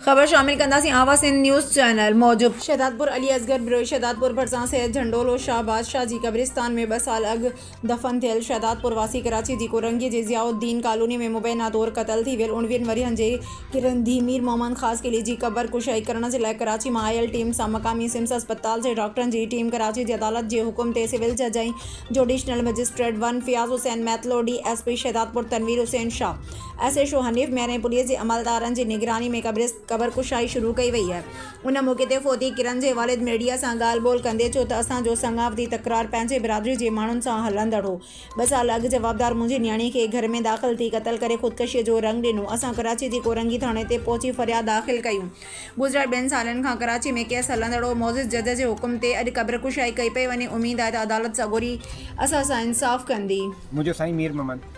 خبر شامل ڪنداسين آواز سنڌ نيوز چينل موجب. شهدادپور علي اصغر بروهي شهدادپور ڀرسان سيد جهنڊولو شاهه بادشاهه جي قبرستان ۾ ٻه سال اڳ دفن ٿيل شهدادپور واسي ڪراچي جي ڪورنگي جي ضياء الدين ڪالوني ۾ مبينا طور قتل ٿي ويل اڻويهن ورهين جي گرنڌي مير محمد خاص قلعي جي قبر ڪشائي ڪرڻ جي لاء ڪراچي مان آيل ٽيم سان مقامي سمس اسپتال جي ڊاڪٽرن جي ٽيم ڪراچي جي عدالت جي حڪم تي سول جج ۽ judicial magistrate one Fayaz Hussain Mitlo D S P Shahdadpur Tanveer Hussain Shah S H O Hanif Mir ۽ police جي عملدارن جي نگراني ۾ قبر ڪشائي شروع ڪئي وئي آهي ان موقعي تي فوتي ڪرن جي والد ميڊيا سان ڳالهه ٻولهه ڪندي چيو ته اسان جو سڱاوتي تڪرار پنهنجي برادري جي ماڻهن سان هلندڙ هو ٻه سال اڳ جوابدار منهنجي نياڻي کي گهر ۾ داخل ٿي قتل ڪري خودڪشي جو رنگ ڏنو اسان ڪراچي جي ڪورنگي ٿاڻي تي پهچي فرياد داخل ڪئي گذريل ٻن سالن کان ڪراچي ۾ ڪيس هلندڙ هو معزز جج جي حڪم تي اڄ قبر ڪشائي ڪئي پئي وڃي اميد آهي ته عدالت سڳوري اسان سان انصاف ڪندي. منهنجو سائين مير محمد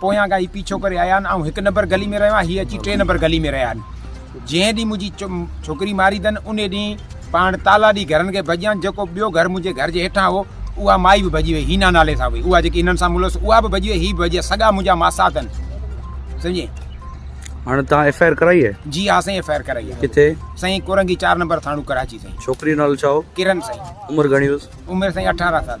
پويان کان هي پيڇو ڪري آيا آهن. آئون هڪ نمبر گلي ۾ رهيو آهيان. هي اچي ٽي نمبر گلي ۾ رهيا آهن. جنهن ڏينهن منهنجي ڇوڪري ماري اٿن انهي ڏينهن پاڻ تالا ڏئي گهرن کي ڀڄيا آهن. جيڪو ٻيو گهر منهنجي گهر جي هيٺان هو اها مائي به ڀڄي وئي. هينا نالي سان هئي. اها جيڪي هنن سان ملوث هئي اها به ڀڄي وئي. هي به ڀڄي ويا. سڳا منهنجا ماسا اٿن. سمجهين؟ هاڻي توهان ايف آء آر ڪرائي آهي؟ جي ها سائين ايف آء آر ڪرائي آهي. ڪٿي؟ سائين ڪورنگي چار نمبر ٿاڻو ڪراچي سائين. ڇوڪري جو نالو ڇا هو؟ ڪرن سائين. عمر گهڻي هيس؟ عمر سائين اٺارهن سال.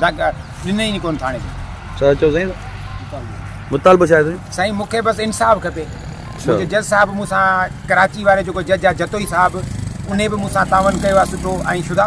ڏني ئي ڪونه ٿاڻي ۾. ڇا چيو سائين مطالبو ڇا آهي سائين. سائين مونکي بس انصاف کپي منهنجي جج صاحب مون سان ڪراچي واري جيڪو جج آهي جتوئي صاحب انهي به مون سان تعاون ڪيو آهي سٺو ۽ شدا.